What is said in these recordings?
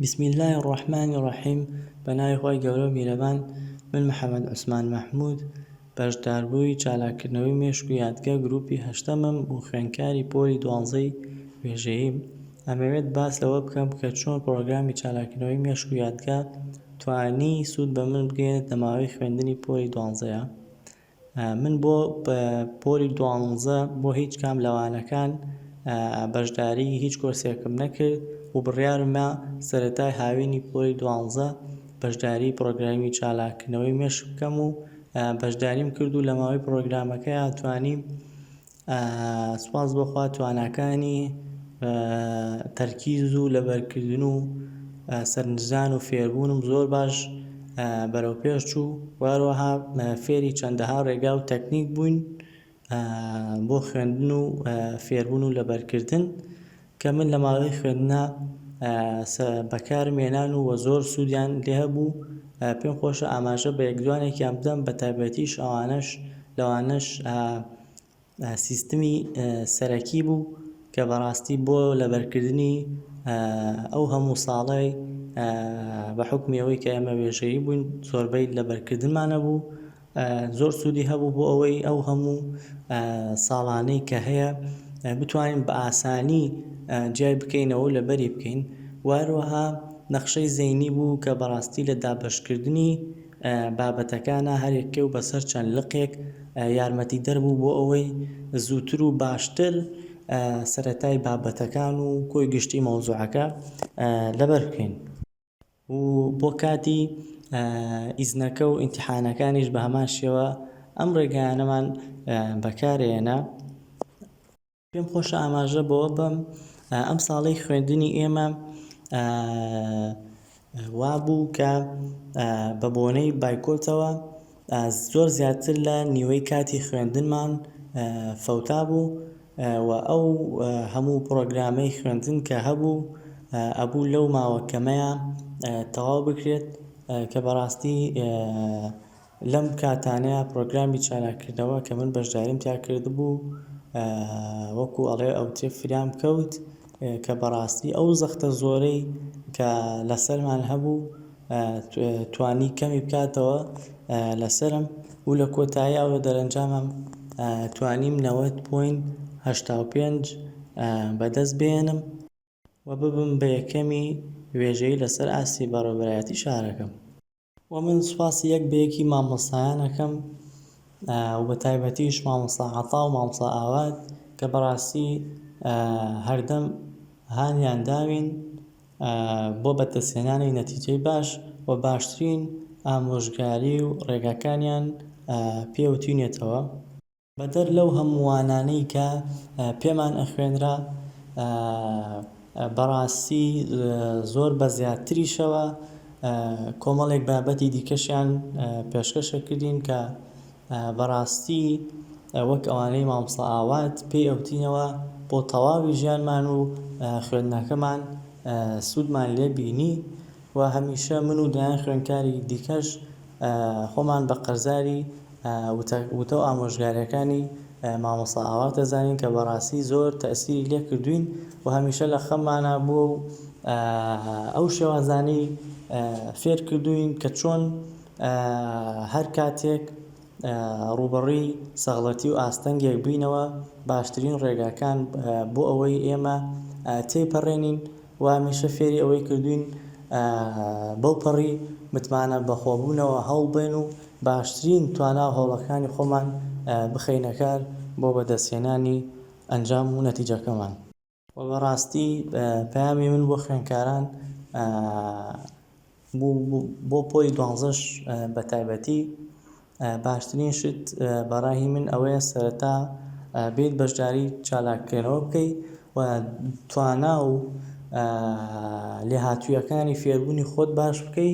بسم اللە الرحمن الرحیم بەناوی خوای گەورەو میرەبان من محمد عوسمان محمود بەشداربووی چالاککردنەوەی مێشک و یادگە گروپی هەشتەمم و خوێندکاری پۆلی دوانزەی وێژەییم ئەمەوێت باس لەوە بکەم کە چۆن پڕۆگرامی چالاککردنەوەی مێشک و یادگە توانی سود بەمن بگەیەنێت لەماوەی خوێندنی پۆلی دوانزەیا من بۆ پۆلی دوانزە بۆ هیچ کام لە وانەکان بەشداریی هیچ کۆرسێکم نەکرد و بڕیارمە سەرەتای هاوینی پۆلی دوانزە بەشداریی پڕۆگرامی چالاککردنەوەی مێشک بکەم و بەشداریم کرد و لە ماوەی پڕۆگرامەکەیا توانیم سوپاس بۆ خوا تواناکانی تەرکیز و لەبەرکردن و سەرنجدان و فێربوونم زۆر باش بەرەو پێش چوو واروەها فێری چەندەها ڕێگا و تەکنیک بووین بۆ خوێندن و فێربوون و لەبەرکردن کە من لە ماوەی خوێندنا بەکارم هێنان و وە زۆر سودیان لێ هەبوو پێم خۆشە ئاماژە بە یەک دوانێکیان بدەم بە تایبەتیش ئەوانەش لەوانەش سیستمی سەرەکی بوو کە بەڕاستی بۆ لەبەرکردنی ئەو هەموو ساڵەی بە حوکمی ئەوەی کە ئێمە وێژەیی بووین زۆربەی لەبەرکردنمان نەبوو زۆر سودی هەبوو بۆ ئەوەی ئەو هەموو ساڵانەی کە هەیە بتوانین بە ئاسانی جیای بکەینەوە و لەبەری بکەین و هەروەها نەخشەی زەینی بوو کە بەڕاستی لە دابەشکردنی بابەتەکانا هەر یەکەی و بەسەر چەند لقێک یارمەتیدەر بوو بۆ ئەوەی زووتر و باشتر سەرەتای بابەتەکان و کۆی گشتی مەوزوعەکە لەبەر بکەین. و بۆ کاتی ئیزنەکە و ئینتیحانەکانیش بە هەمان شێوە ئەم ڕێگایانەمان بەکارێنە پێم خۆشە ئاماژە بۆ بەم ئەم ساڵی خوێندنی ئێمە وابوو کە بە بۆنەی بایکۆتەوە زۆر زیاتر لە نیوەی کاتی خوێندنمان فەوتا بوو و ئەو هەموو پڕۆگرامەی خوێندن کە هەبوو ئەبوو لەو ماوە کەمەیە تەواو بکرێت کە بەڕاستی لەم کاتانەیە پڕۆگرامی چالاککردنەوە کە من بەشداریم تیا کردبوو وەکوو ئەڵێ ئەوترێ فریام کەوت کە بەڕاستی ئەو زەختە زۆرەی کە لەسەرمان هەبوو توانی کەمی بکاتەوە لەسەرم و لە کۆتایی ئەو دەرەنجامەم توانیم نەوەد پۆینت هەشتا و پێنج بەدەست بێنم و ببم بە یەکەمی وێژەیی لەسەر ئاستی بەڕێوەبەرایەتی شارەکەم. وە من سوپاسی یەک بە یەکی مامۆستایان ئەکەم و بە تایبەتیش مامۆستا عەتا و مامۆستا ئاوات کە بەڕاستی هەردەم هانیان داوین بۆ بەدەستهێنانی نەتیجەی باش و باشترین ئامۆژگاری و ڕێگاکانیان پێ وتوینێتەوە. بەدەر لەو هەمووانانەی کە پێمان ئەخوێنرا بەڕاستی زۆر بە زیاتریشەوە کۆمەڵێک بابەتی دیکەشیان پێشکەش ئەکردین کە بەڕاستی وەک ئەوانەی مامۆستا ئاوات پێی ئەوتینەوە بۆ تەواوی ژیانمان و خوێندنەکەمان سوودمان لێ بینی و هەمیشە من و دەیان خوێندکاری دیکەش خۆمان بە قەرزاری وتە و ئامۆژگاریەکانی مامۆستا ئاوات دەزانین کە بەڕاستی زۆر تەئسیری لێ کردووین و هەمیشە لە خەممانا بووە و ئەو شێوازانەی فێر کردووین کە چۆن هەر کاتێک ڕووبەڕووی سەغڵەتی و ئاستەنگێک بووینەوە، باشترین ڕێگاکان بۆ ئەوەی ئێمە تێیپەڕێنین و هەمیشە فێری ئەوەی کردووین بەو پەڕی متمانە بەخۆبوونەوە هەوڵبدەین و باشترین توانا و هەوڵەکانی خۆمان بخەینە کار بۆ بەدەستهێنانی ئەنجام و نەتیجەکەمان. وە بەڕاستی پەیامی من بۆ خوێندکاران بۆ پۆلی دوانزەش بە تایبەتی باشترین شت بەڕای من ئەوەیە سەرەتا بێیت بەشداری چالاککەرەوە بکەی و توانا و لێهاتوویەکانی فێربوونی خۆت باش بکەی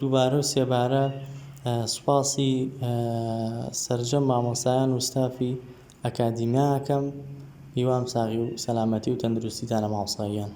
دووبارە و سێبارە سوپاسی سەرجەم مامۆستایان و ستافی ئەکادیمیا ئەکەم هیوام ساغی و سەلامەتی و تەندروستیتانە مامۆستا گیان.